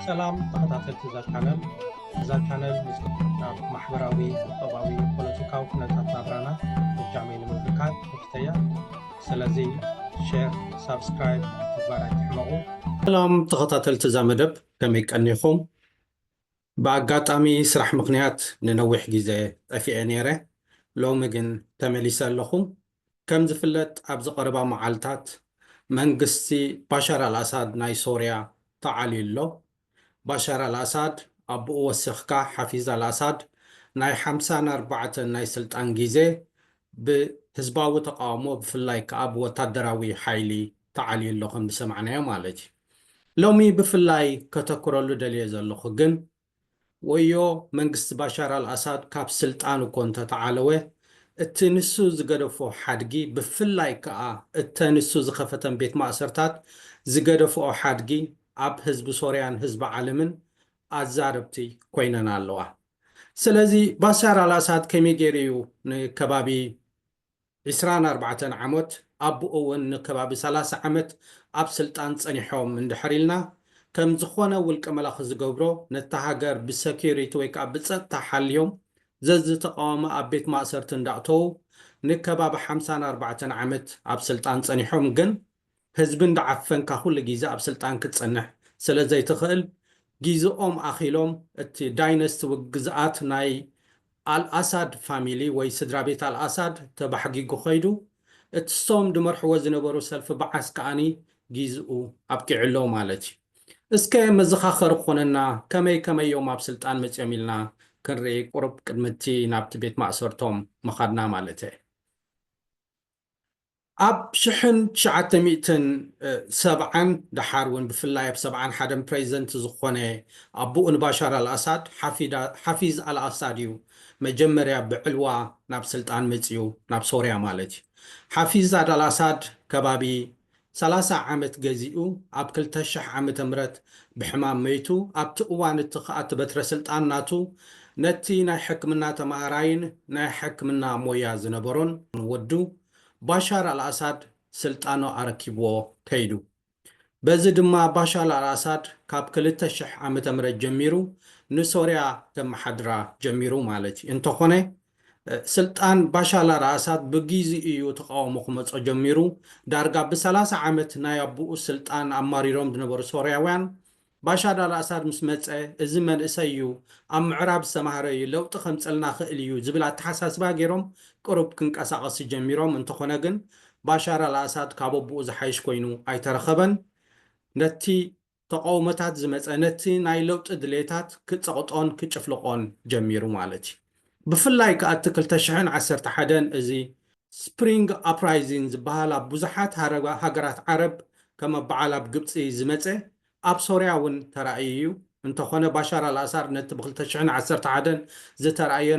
ሰላም ተኸታተልቲ እዛ ቻነል እዛ ቻነል ምስ ናብ ማሕበራዊ ቁጠባዊ ፖለቲካዊ ኩነታት ናብራና እጃመይ ንምብርካት ከፍተያ ስለዚ ሼር ሳብስክራይብ ምግባር ኣይትሕመቑ ሰላም ተኸታተልቲ እዛ መደብ ከመይ ቀኒኹም ብኣጋጣሚ ስራሕ ምኽንያት ንነዊሕ ግዜ ጠፊኤ ነይረ፣ ሎሚ ግን ተመሊሰ ኣለኹ። ከም ዝፍለጥ ኣብዚ ቀረባ መዓልታት መንግስቲ ባሻር ኣልኣሳድ ናይ ሶርያ ተዓልዩ ኣሎ። ባሻር ኣልኣሳድ ኣቡኡ ወሲኽካ ሓፊዝ ኣልኣሳድ ናይ ሓምሳን ኣርባዕተን ናይ ስልጣን ግዜ ብህዝባዊ ተቓውሞ ብፍላይ ከኣ ብወታደራዊ ሓይሊ ተዓልዩ ኣሎ ከም ዝሰማዕናዮ ማለት እዩ። ሎሚ ብፍላይ ከተኩረሉ ደልየ ዘለኹ ግን፣ ወዮ መንግስቲ ባሻር ኣልኣሳድ ካብ ስልጣን እኮ እንተተዓለወ፣ እቲ ንሱ ዝገደፎ ሓድጊ ብፍላይ ክኣ እተ ንሱ ዝኸፈተን ቤት ማእሰርታት ዝገደፍኦ ሓድጊ ኣብ ህዝቢ ሶርያን ህዝቢ ዓለምን ኣዛረብቲ ኮይነን ኣለዋ። ስለዚ ባሻር ኣልኣሳድ ከመይ ጌሩ እዩ ንከባቢ ዕስራን ኣርባዕተን ዓሞት ኣቡኡ ውን ንከባቢ ሰላሳ ዓመት ኣብ ስልጣን ጸኒሖም እንድሕር ኢልና ከም ዝኾነ ውልቀ መላኺ ዝገብሮ ነታ ሃገር ብሰኩሪቲ ወይ ከኣ ብጸጥታ ሓልዮም ዘዝተቃወመ ኣብ ቤት ማእሰርቲ እንዳእተዉ ንከባቢ ሓምሳን ኣርባዕተን ዓመት ኣብ ስልጣን ጸኒሖም ግን ህዝቢ እንዳዓፈንካ ኩሉ ጊዘ ኣብ ስልጣን ክትጸንሕ ስለ ዘይትኽእል ጊዝኦም ኣኺሎም እቲ ዳይነስቲ ውይ ግዝኣት ናይ ኣልኣሳድ ፋሚሊ ወይ ስድራቤት ኣልኣሳድ ተባሕጊጉ ከይዱ እቲ ሶም ድመርሕዎ ዝነበሩ ሰልፊ ባዓስ ከኣኒ ጊዝኡ ኣብቂዑ ኣሎ ማለት እዩ እስከ መዘኻኸሪ ክኾነና ከመይ ከመይ እዮም ኣብ ስልጣን መጽዮም ኢልና ክንርኢ ቁሩብ ቅድሚ እቲ ናብቲ ቤት ማእሰርቶም ምኻድና ማለተይ ኣብ ሽሕን ትሽዓተ ሚእትን ሰብዓን ደሓር እውን ብፍላይ ኣብ ሰብዓን ሓደን ፕረዚደንት ዝኾነ ኣቡኡ ንባሻር ኣልኣሳድ ሓፊዝ ኣልኣሳድ እዩ መጀመርያ ብዕልዋ ናብ ስልጣን መፂኡ ናብ ሶርያ ማለት እዩ ሓፊዝ ኣልኣሳድ ከባቢ ሰላሳ ዓመት ገዚኡ ኣብ ክልተ ሽሕ ዓመተ ምህረት ብሕማም መይቱ ኣብቲ እዋን እቲ ከኣ እቲ በትረ ስልጣን ናቱ ነቲ ናይ ሕክምና ተማሃራይን ናይ ሕክምና ሞያ ዝነበሮን ወዱ ባሻር ኣልኣሳድ ስልጣኑ ኣረኪብዎ ከይዱ በዚ ድማ ባሻር ኣልኣሳድ ካብ ክልተ ሽሕ ዓመተ ምህረት ጀሚሩ ንሶርያ ከመሓድራ ጀሚሩ ማለት እዩ እንተኾነ ስልጣን ባሻል ኣልኣሳድ ብጊዚ እዩ ተቓውሞ ክመጾ ጀሚሩ። ዳርጋ ብሰላሳ ዓመት ናይ ኣቡኡ ስልጣን ኣማሪሮም ዝነበሩ ሶርያውያን፣ ባሻድ ኣልኣሳድ ምስ መጸ እዚ መንእሰይ እዩ፣ ኣብ ምዕራብ ዝተማህረ እዩ፣ ለውጢ ከምጽልና ክእል እዩ ዝብል ኣተሓሳስባ ጌሮም ቅሩብ ክንቀሳቐሲ ጀሚሮም። እንተኾነ ግን ባሻር ኣልኣሳድ ካብ ኣቡኡ ዝሓይሽ ኮይኑ ኣይተረኸበን። ነቲ ተቐውሞታት ዝመጸ ነቲ ናይ ለውጢ ድሌታት ክጸቕጦን ክጭፍልቖን ጀሚሩ ማለት እዩ። ብፍላይ ከኣ እቲ ክልተ ሽሕን ዓሰርተ ሓደን እዚ ስፕሪንግ ኣፕራይዚን ዝበሃል ኣብ ብዙሓት ሃገራት ዓረብ ከም ኣብ በዓል ኣብ ግብጺ ዝመጸ ኣብ ሶርያ እውን ተራእዩ እዩ። እንተኾነ ባሻር ኣልኣሳድ ነቲ ብ ክልተ ሽሕን ዓሰርተ ሓደን ዝተራእየ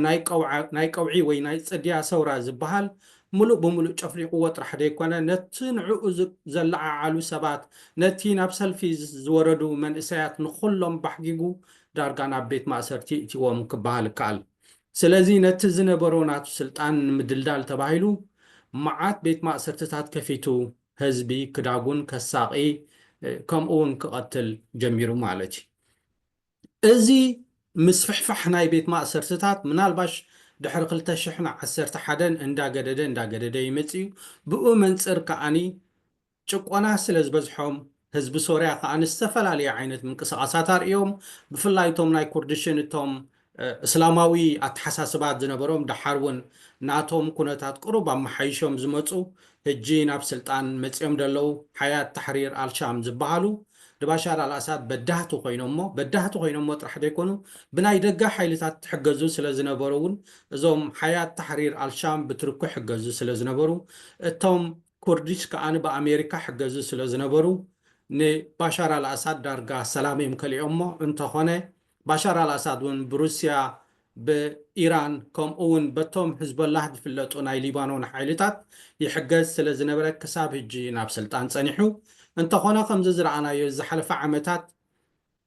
ናይ ቀውዒ ወይ ናይ ጽድያ ሰውራ ዝበሃል ምሉእ ብምሉእ ጨፍሊቑዎ ጥራሕ ዘይኮነ፣ ነቲ ንዕኡ ዘለዓዓሉ ሰባት፣ ነቲ ናብ ሰልፊ ዝወረዱ መንእሰያት ንኹሎም ባሕጊጉ ዳርጋ ናብ ቤት ማእሰርቲ እእቲዎም ክበሃል ይከኣል። ስለዚ ነቲ ዝነበሮ ናቱ ስልጣን ንምድልዳል ተባሂሉ መዓት ቤት ማእሰርትታት ከፊቱ ህዝቢ ክዳጉን ከሳቒ ከምኡ'ውን ክቐትል ጀሚሩ ማለት እዩ። እዚ ምስፍሕፋሕ ናይ ቤት ማእሰርትታት ምናልባሽ ድሕሪ ክልተ ሽሕን ዓሰርተ ሓደን እንዳገደደ እንዳገደደ ይመጽእ እዩ። ብኡ መንጽር ከኣ ጭቆና ስለ ዝበዝሖም ህዝቢ ሶርያ ከኣ ዝተፈላለየ ዓይነት ምንቅስቓሳት ኣርእዮም። ብፍላይ እቶም ናይ ኩርድሽን እቶም እስላማዊ ኣተሓሳስባት ዝነበሮም ደሓር እውን ናቶም ኩነታት ቅሩብ ኣመሓይሾም ዝመጹ ህጂ ናብ ስልጣን መጺኦም ደለዉ ሓያት ታሕሪር ኣልሻም ዝባሃሉ ንባሻር ኣልኣሳድ በዳህቲ ኮይኖሞ በዳህቲ ኮይኖሞ ጥራሕ ደይኮኑ ብናይ ደገ ሓይልታት ትሕገዙ ስለዝነበሩ ውን እዞም ሓያት ታሕሪር ኣልሻም ብትርኩ ሕገዙ ስለዝነበሩ እቶም ኩርዲሽ ከኣ ብኣሜሪካ ሕገዙ ስለዝነበሩ ንባሻር ኣልኣሳድ ዳርጋ ሰላም እዮም ከሊኦሞ እንተኾነ ባሻር ኣልኣሳድ ውን ብሩስያ ብኢራን ከምኡ ውን በቶም ሕዝቦላህ ዝፍለጡ ናይ ሊባኖን ሓይልታት ይሕገዝ ስለ ዝነበረ ክሳብ ህጂ ናብ ስልጣን ጸኒሑ እንተኾነ ከምዚ ዝረኣናዮ እዚ ዝሓለፈ ዓመታት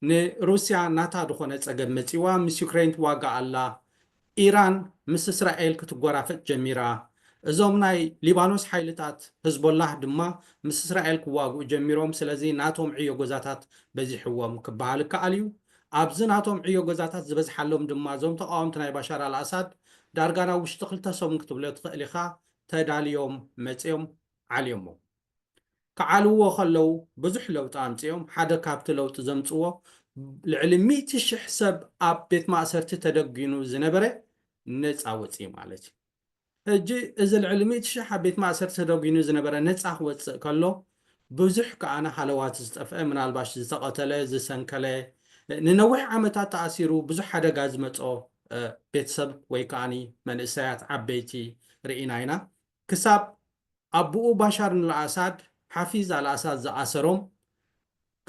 ንሩስያ ናታ ዝኾነ ጸገም መጺእዋ ምስ ዩክረይንት ዋጋ ኣላ ኢራን ምስ እስራኤል ክትጎራፈጥ ጀሚራ፣ እዞም ናይ ሊባኖስ ሓይልታት ህዝቦላህ ድማ ምስ እስራኤል ክዋግኡ ጀሚሮም፣ ስለዚ ናቶም ዕዮ ገዛታት በዚሕዎም ክበሃል ይከኣል እዩ። ኣብዚ ናቶም ዕዮ ገዛታት ዝበዝሓሎም ድማ እዞም ተቓወምቲ ናይ ባሻር ኣልኣሳድ ዳርጋ ናብ ውሽጢ ክልተ ሰሙን ክትብሎ ትኽእል ኢኻ ተዳልዮም መጺኦም ዓልዮሞም። ክዓልዎ ከለዉ ብዙሕ ለውጢ ኣምጺኦም፣ ሓደ ካብቲ ለውጢ ዘምጽዎ ልዕሊ ሚእቲ ሽሕ ሰብ ኣብ ቤት ማእሰርቲ ተደጒኑ ዝነበረ ነጻ ወጺኡ ማለት እዩ። ሕጂ እዚ ልዕሊ ሚእቲ ሽሕ ኣብ ቤት ማእሰርቲ ተደጒኑ ዝነበረ ነጻ ክወጽእ ከሎ ብዙሕ ከኣ ሃለዋት ዝጠፍአ ምናልባሽ ዝተቐተለ ዝሰንከለ ንነዊሕ ዓመታት ተኣሲሩ ብዙሕ ሓደጋ ዝመጾ ቤተሰብ ወይ ከኣ መንእሰያት ዓበይቲ ርኢና ኢና ክሳብ ኣቡኡ ባሻር ንልኣሳድ ሓፊዝ ኣልኣሳድ ዝኣሰሮም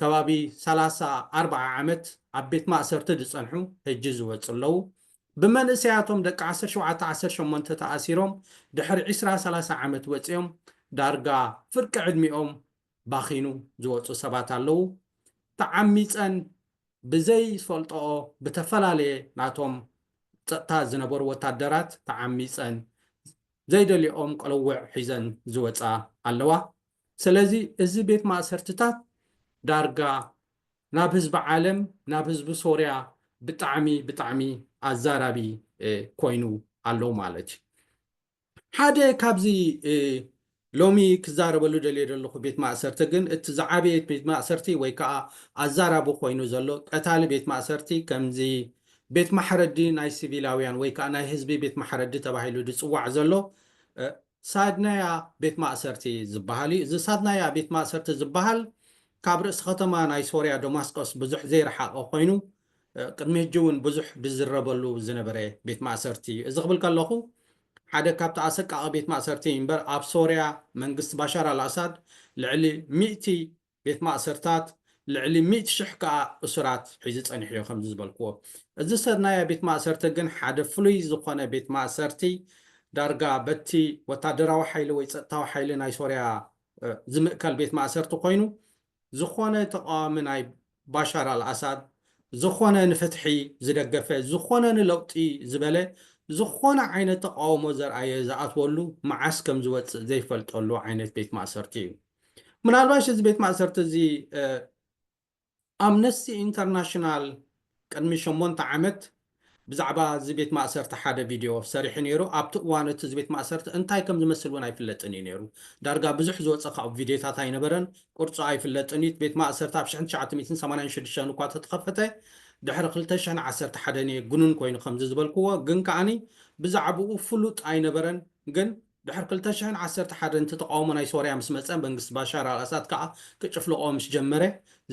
ከባቢ ሰላሳ ኣርብዓ ዓመት ኣብ ቤት ማእሰርቲ ዝጸንሑ ህጂ ዝወጹ ኣለዉ። ብመንእሰያቶም ደቂ ዓሰርተ ሸውዓተ ዓሰርተ ሸሞንተ ተኣሲሮም ድሕሪ ዕስራ ሰላሳ ዓመት ወጺኦም ዳርጋ ፍርቂ ዕድሚኦም ባኺኑ ዝወጹ ሰባት ኣለዉ። ተዓሚጸን ብዘይ ዝፈልጠኦ ብተፈላለየ ናቶም ጸጥታ ዝነበሩ ወታደራት ተዓሚጸን ዘይደልየኦም ቅልውዕ ሒዘን ዝወጻ ኣለዋ ሰለዚ እዚ ቤት ማእሰርትታት ዳርጋ ናብ ህዝቢ ዓለም ናብ ህዝቢ ሶርያ ብጣዕሚ ብጣዕሚ ኣዛራቢ ኮይኑ ኣሎ ማለት እዩ። ሓደ ካብዚ ሎሚ ክዛረበሉ ደልየ ዘለኹ ቤት ማእሰርቲ ግን እቲ ዝዓበየ ቤት ማእሰርቲ ወይ ከኣ ኣዛራቢ ኮይኑ ዘሎ ቀታሊ ቤት ማእሰርቲ ከምዚ ቤት ማሕረዲ ናይ ስቪላውያን ወይ ከኣ ናይ ህዝቢ ቤት ማሕረዲ ተባሂሉ ዝጽዋዕ ዘሎ ሳድናያ ቤት ማእሰርቲ ዝበሃል እዩ። እዚ ሳድናያ ቤት ማእሰርቲ ዝበሃል ካብ ርእሲ ከተማ ናይ ሶርያ ደማስቆስ ብዙሕ ዘይረሓቐ ኮይኑ ቅድሚ ሕጂ እውን ብዙሕ ዝዝረበሉ ዝነበረ ቤት ማእሰርቲ እዩ። እዚ ክብል ከለኹ ሓደ ካብቲ ኣሰቃቒ ቤት ማእሰርቲ እዩ እምበር ኣብ ሶርያ መንግስቲ ባሻር ኣልኣሳድ ልዕሊ ሚእቲ ቤት ማእሰርታት ልዕሊ ሚእቲ ሽሕ ከኣ እሱራት ሒዙ ጸኒሑ እዩ ከምዚ ዝበልክዎ። እዚ ሰናያ ቤት ማእሰርቲ ግን ሓደ ፍሉይ ዝኾነ ቤት ማእሰርቲ ዳርጋ በቲ ወታደራዊ ሓይሊ ወይ ጸጥታዊ ሓይሊ ናይ ሶርያ ዝምእከል ቤት ማእሰርቲ ኮይኑ ዝኾነ ተቓዋሚ ናይ ባሻር ኣልኣሳድ ዝኾነ ንፍትሒ ዝደገፈ ዝኾነ ንለውጢ ዝበለ ዝኾነ ዓይነት ተቓውሞ ዘርኣየ ዝኣትወሉ መዓስ ከም ዝወጽእ ዘይፈልጠሉ ዓይነት ቤት ማእሰርቲ እዩ። ምናልባሽ እዚ ቤት ማእሰርቲ እዚ ኣምነስቲ ኢንተርናሽናል ቅድሚ ሸሞንተ ዓመት ብዛዕባ እዚ ቤት ማእሰርቲ ሓደ ቪድዮ ሰሪሑ ነይሩ። ኣብቲ እዋን እቲ እዚ ቤት ማእሰርቲ እንታይ ከም ዝመስል እውን ኣይፍለጥን እዩ ነይሩ። ዳርጋ ብዙሕ ዝወጸ ካብኡ ቪድዮታት ኣይነበረን። ቅርጹ ኣይፍለጥን እዩ። እቲ ቤት ማእሰርቲ ኣብ ሽሕን ትሽዓተ ሚእትን ሰማንያን ሽዱሽተን እኳ ተተኸፈተ፣ ድሕሪ ክልተ ሽሕን ዓሰርተ ሓደን እየ ግኑን ኮይኑ ከምዚ ዝበልክዎ፣ ግን ከኣ ብዛዕብኡ ፍሉጥ ኣይነበረን። ግን። ድሕሪ ክልተ ሽሕን ዓሰርተ ሓደን እቲ ተቓውሞ ናይ ሶርያ ምስ መጸ፣ መንግስቲ ባሻር ኣልኣሳድ ከኣ ክጭፍልቖ ምስ ጀመረ፣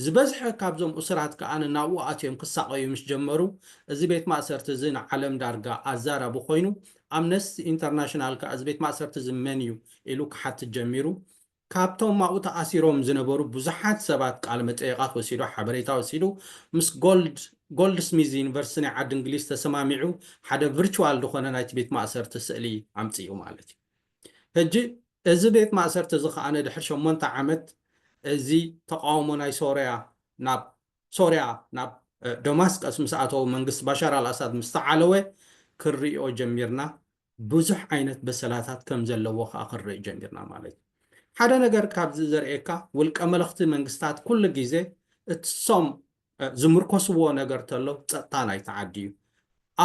ዝበዝሐ ካብዞም እሱራት ከኣ ንናብኡ ኣትዮም ክሳቐዩ ምስ ጀመሩ፣ እዚ ቤት ማእሰርቲ እዚ ንዓለም ዳርጋ ኣዛራቢ ኮይኑ፣ ኣምነስቲ ኢንተርናሽናል ከኣ እዚ ቤት ማእሰርቲ እዚ መን እዩ ኢሉ ክሓትት ጀሚሩ። ካብቶም ኣብኡ ተኣሲሮም ዝነበሩ ብዙሓት ሰባት ቃለመጠይቓት ወሲዱ፣ ሓበሬታ ወሲዱ፣ ምስ ጎልድ ጎልድስሚዝ ዩኒቨርሲቲ ናይ ዓዲ እንግሊዝ ተሰማሚዑ ሓደ ቭርቹዋል ዝኾነ ናይቲ ቤት ማእሰርቲ ስእሊ ኣምጺኡ ማለት እዩ። ሕጂ እዚ ቤት ማእሰርቲ እዚ ከኣ ድሕሪ ሸሞንተ ዓመት እዚ ተቓውሞ ናይ ሶርያ ናብ ሶርያ ናብ ደማስቀስ ምስ ኣተወ መንግስቲ ባሻር ኣልኣሳድ ምስ ተዓለወ ክንርእዮ ጀሚርና ብዙሕ ዓይነት በሰላታት ከም ዘለዎ ከኣ ክንርኢ ጀሚርና ማለት እዩ። ሓደ ነገር ካብዚ ዘርእየካ ውልቀ መለኽቲ መንግስታት ኩሉ ግዜ እትሶም ዝምርኮስዎ ነገር ተሎ ጸጥታ ናይቲ ዓዲ እዩ።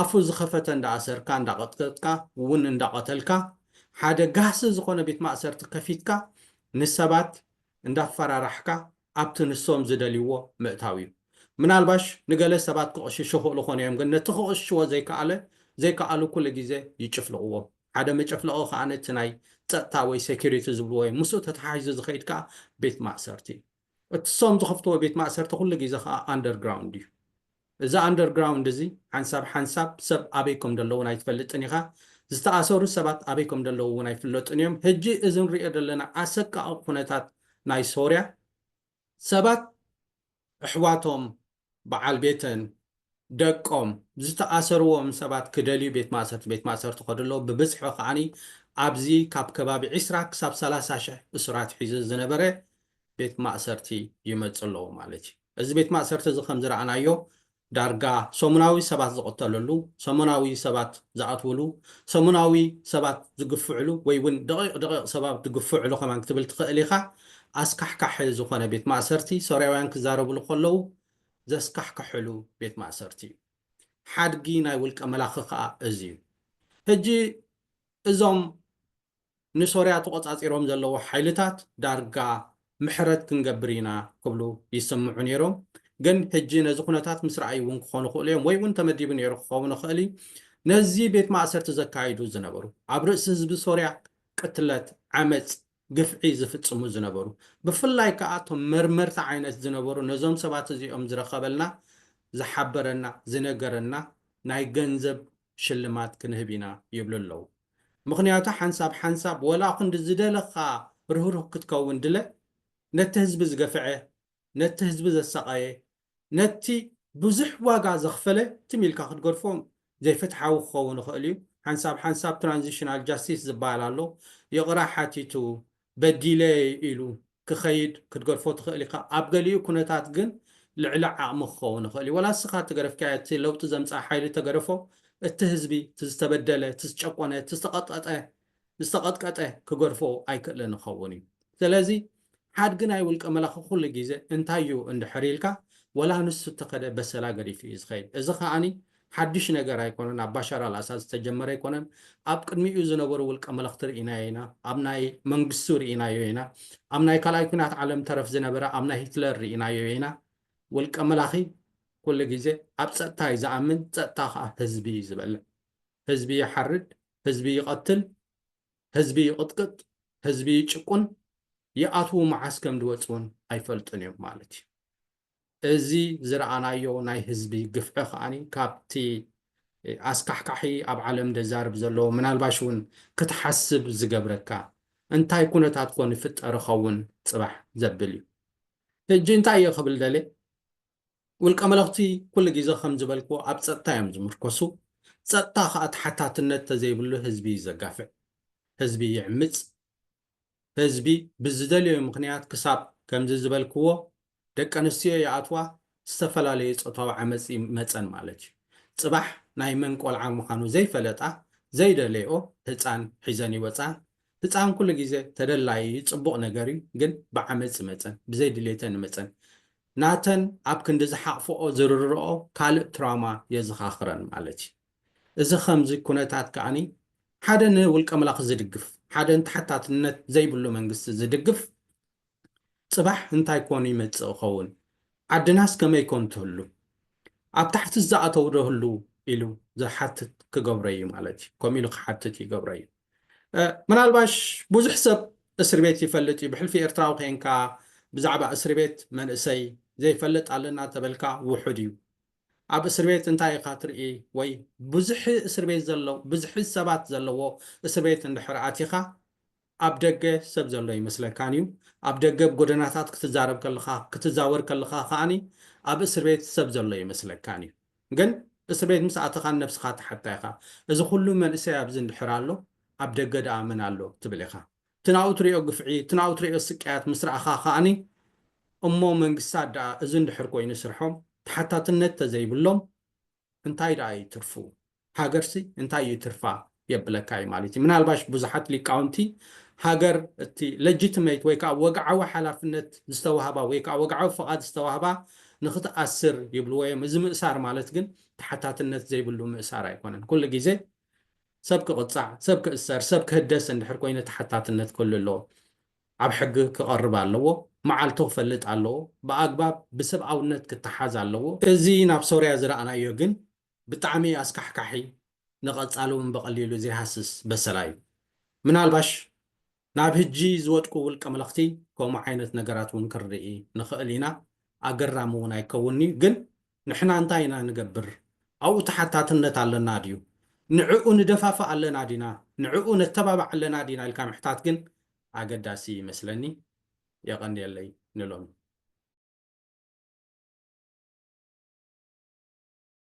ኣፉ ዝኸፈተ እንዳኣሰርካ እንዳቐጥቀጥካ ውን እንዳቐተልካ ሓደ ጋህሲ ዝኾነ ቤት ማእሰርቲ ከፊትካ ንሰባት እንዳፈራራሕካ ኣብቲ ንሶም ዝደልይዎ ምእታው እዩ። ምናልባሽ ንገለ ሰባት ክቕሽሹ ይኽእሉ ኮን እዮም ግን ነቲ ክቕሽሽዎ ዘይከኣለ ዘይከኣሉ ኩሉ ግዜ ይጭፍልቕዎ። ሓደ መጨፍለቒ ከኣ ነቲ ናይ ጸጥታ ወይ ሴኩሪቲ ዝብልዎ እዩ። ምስኡ ተተሓሒዙ ዝኸይድ ከኣ ቤት ማእሰርቲ እዩ። እቲ ንሶም ዝኸፍትዎ ቤት ማእሰርቲ ኩሉ ግዜ ከኣ ኣንደርግራውንድ እዩ። እዚ ኣንደር ግራውንድ እዚ ሓንሳብ ሓንሳብ ሰብ ኣበይ ከም ደለዉን ኣይትፈልጥን ኢኻ ዝተኣሰሩ ሰባት ኣበይ ከም ደለዉ ውን ኣይፍለጡን እዮም ህጂ እዚ ንሪኦ ደለና ኣሰቃቂ ኩነታት ናይ ሶርያ ሰባት እሕዋቶም በዓል ቤተን ደቆም ዝተኣሰርዎም ሰባት ክደልዩ ቤት ማእሰርቲ ቤት ማእሰርቲ ይኸዱ ኣለዉ ብብዝሒ ከኣ ኣብዚ ካብ ከባቢ ዕስራ ክሳብ ሰላሳ ሽሕ እሱራት ሒዙ ዝነበረ ቤት ማእሰርቲ ይመጽ ኣለዉ ማለት እዩ። እዚ ቤት ማእሰርቲ እዚ ከም ዝረኣናዮ ዳርጋ ሰሙናዊ ሰባት ዝቕተለሉ፣ ሰሙናዊ ሰባት ዝኣትውሉ፣ ሰሙናዊ ሰባት ዝግፍዕሉ ወይ ውን ደቒቕ ደቒቕ ሰባት ዝግፍዕሉ ከማን ክትብል ትኽእል ኢኻ። ኣስካሕካሒ ዝኾነ ቤት ማእሰርቲ ሶርያውያን ክዛረብሉ ከለዉ ዘስካሕክሕሉ ቤት ማእሰርቲ እዩ። ሓድጊ ናይ ውልቀ መላኺ ከኣ እዚ እዩ። ሕጂ እዞም ንሶርያ ተቖጻጺሮም ዘለዉ ሓይልታት ዳርጋ ምሕረት ክንገብር ኢና ክብሉ ይስምዑ ነይሮም። ግን ሕጂ ነዚ ኩነታት ምስ ረኣዩ እውን ክኾኑ ይኽእሉ እዮም፣ ወይ እውን ተመዲቡ ነይሩ ክኸውን ይኽእል እዩ፣ ነዚ ቤት ማእሰርቲ ዘካይዱ ዝነበሩ፣ ኣብ ርእሲ ህዝቢ ሶርያ ቅትለት፣ ዓመጽ፣ ግፍዒ ዝፍጽሙ ዝነበሩ፣ ብፍላይ ከኣ እቶም መርመርቲ ዓይነት ዝነበሩ ነዞም ሰባት እዚኦም ዝረኸበልና፣ ዝሓበረና፣ ዝነገረና ናይ ገንዘብ ሽልማት ክንህብ ኢና ይብሉ ኣለዉ ምኽንያቱ ሓንሳብ ሓንሳብ ወላ ክንዲ ዝደለኻ ርህሩህ ክትከውን ድለ ነቲ ህዝቢ ዝገፈዐ ነቲ ህዝቢ ዘሳቐየ ነቲ ብዙሕ ዋጋ ዘኽፈለ ትም ኢልካ ክትገድፎም ዘይፍትሓዊ ክኸውን ይኽእል እዩ ሓንሳብ ሓንሳብ ትራንዚሽናል ጃስቲስ ዝባሃል ኣሎ ይቕራ ሓቲቱ በዲለ ኢሉ ክኸይድ ክትገድፎ ትኽእል ኢኻ። ኣብ ገሊኡ ኩነታት ግን ልዕሊ ዓቕሚ ክኸውን ይኽእል እዩ። ዋላ ንስኻ እትገደፍካዮ እቲ ለውጢ ዘምጽኣ ሓይሊ እተገደፎ፣ እቲ ህዝቢ፣ እቲ ዝተበደለ፣ እቲ ዝጨቆነ፣ እቲ ዝተቐጠጠ፣ ዝተቐጥቀጠ ክገድፎ ኣይክእልን ይኸውን እዩ። ስለዚ ሓድጊ ናይ ውልቀ መላኺ ኩሉ ግዜ እንታይ እዩ እንድሕር ኢልካ፣ ዋላ ንሱ እተኸደ በሰላ ገዲፉ እዩ ዝኸይድ። እዚ ከኣ ሓዱሽ ነገር ኣይኮነን፣ ኣብ ባሻር ኣልኣሳድ ዝተጀመረ ኣይኮነን፣ ኣብ ቅድሚኡ ዝነበሩ ውልቀ መለኽቲ ርኢናዮ ኢና፣ ኣብ ናይ መንግስቱ ርኢናዮ ኢና፣ ኣብ ናይ ካልኣይ ኲናት ዓለም ተረፍ ዝነበረ ኣብ ናይ ሂትለር ርኢናዮ ኢና፣ ውልቀ መላኺ ኩሉ ግዜ ኣብ ጸጥታ እዩ ዝኣምን፣ ጸጥታ ከኣ ህዝቢ እዩ ዝበልዕ፣ ህዝቢ ይሓርድ፣ ህዝቢ ይቐትል፣ ህዝቢ ይቕጥቅጥ፣ ህዝቢ ይጭቁን፣ ይኣትዉ መዓስ ከምድወጽ ውን ኣይፈልጡን እዮም ማለት እዩ። እዚ ዝረኣናዮ ናይ ህዝቢ ግፍዒ ከኣ ካብቲ ኣስካሕካሒ ኣብ ዓለም ደዛርብ ዘሎ ምናልባሽ ውን ክትሓስብ ዝገብረካ እንታይ ኩነታት ኮን ይፍጠር ይኸውን ጽባሕ ዘብል እዩ። ሕጂ እንታይ እየ ክብል ደልየ ውልቀ መለኽቲ ኩሉ ግዜ ከም ዝበልክዎ ኣብ ጸጥታ እዮም ዝምርኮሱ ጸጥታ ከኣ ተሓታትነት ተዘይብሉ ህዝቢ እዩ ዘጋፍዕ ህዝቢ ይዕምጽ ህዝቢ ብዝደለዮ ምኽንያት ክሳብ ከምዚ ዝበልክዎ ደቂ ኣንስትዮ ይኣትዋ ዝተፈላለዩ ፆታዊ ዓመፅ ይመፀን ማለት እዩ። ፅባሕ ናይ መን ቆልዓ ምዃኑ ዘይፈለጣ ዘይደለይኦ ህፃን ሒዘን ይወፅኣን። ህፃን ኩሉ ግዘ ተደላዪ እዩ ፅቡቕ ነገር እዩ ግን ብዓመፅ ይመፀን ብዘይ ድሌተን ይመፀን ናተን ኣብ ክንዲ ዝሓቕፈኦ ዝርርረኦ ካልእ ትራውማ የዘኻኽረን ማለት እዩ። እዚ ከምዚ ኩነታት ከኣ ሓደ ንውልቀምላኽ ዝድግፍ፣ ሓደ ንተሓታትነት ዘይብሉ መንግስቲ ዝድግፍ ጽባሕ እንታይ ኮን ይመጽእ ኸውን? ዓድናስ ከመይ ኮን ትህሉ? ኣብ ታሕትስ ዝኣተው ዶ ህልው? ኢሉ ዝሓትት ክገብሮ እዩ ማለት እዩ። ከምኡ ኢሉ ክሓትት ይገብሮ እዩ። ምናልባሽ ብዙሕ ሰብ እስርቤት ይፈልጥ እዩ። ብሕልፊ ኤርትራዊ ኬንካ ብዛዕባ እስርቤት መንእሰይ ዘይፈልጥ ኣለና ተበልካ ውሑድ እዩ። ኣብ እስርቤት እንታይ ኢኻ ትርኢ ወይ ብዝሒ እስርቤት ዘለው ብዝሒ ሰባት ዘለዎ እስርቤት እንድሕር ኣቲኻ ኣብ ደገ ሰብ ዘሎ ኣይመስለካን እዩ ኣብ ደገ ኣብ ጎደናታት ክትዛረብ ከለኻ ክትዛወር ከለኻ ከኣ ኣብ እስርቤት ሰብ ዘሎ ኣይመስለካን እዩ ግን እስርቤት ምስ ኣተኻ ንነብስኻ ትሓታ ኢኻ እዚ ኩሉ መንእሰይ ኣብዚ እንድሕር ኣሎ ኣብ ደገ ደኣ መን ኣሎ ትብል ኢኻ እቲ ናብኡ ትርእዮ ግፍዒ፣ እቲ ናብኡ ትርእዮ ስቅያት ምስ ረኣኻ ከኣኒ፣ እሞ መንግስታት ደኣ እዚ እንድሕር ኮይኑ ስርሖም ተሓታትነት ተዘይብሎም እንታይ ደኣ እዩ ትርፉ? ሃገርሲ እንታይ እዩ ትርፋ? የብለካ እዩ ማለት እዩ። ምናልባሽ ብዙሓት ሊቃውንቲ ሃገር እቲ Legitimate ወይ ከኣ ወግዓዊ ሓላፍነት ዝተዋህባ ወይ ከኣ ወግዓዊ ፍቓድ ዝተዋህባ ንኽትኣስር ይብልዎ እዮም። እዚ ምእሳር ማለት ግን ተሓታትነት ዘይብሉ ምእሳር ኣይኮነን። ኩሉ ግዜ ሰብ ክቕጻዕ፣ ሰብ ክእሰር፣ ሰብ ክህደስ እንድሕር ኮይኑ ተሓታትነት ክህሉ ኣለዎ። ኣብ ሕጊ ክቐርብ ኣለዎ፣ መዓልቱ ክፈልጥ ኣለዎ፣ ብኣግባብ ብሰብኣውነት ክተሓዝ ኣለዎ። እዚ ናብ ሶርያ ዝረኣናዮ ግን ብጣዕሚ ኣስካሕካሒ ንቐጻሊ እውን ብቐሊሉ ዘይሃስስ በሰላ እዩ። ምናልባሽ ናብ ህጂ ዝወድቁ ውልቀ መለኽቲ ከምኡ ዓይነት ነገራት እውን ክንርኢ ንኸእል ኢና፣ ኣገራሚ እውን ኣይከውንን እዩ፣ ግን ንሕና እንታይ ኢና ንገብር? ኣብኡ ተሓታትነት ኣለና ድዩ? ንዕኡ ንደፋፍእ ኣለና ዲና? ንዕኡ ነተባብዕ ኣለና ዲና? ኢልካ ምሕታት ግን ኣገዳሲ እዩ ይመስለኒ። የቐንየለይ ንሎሚ።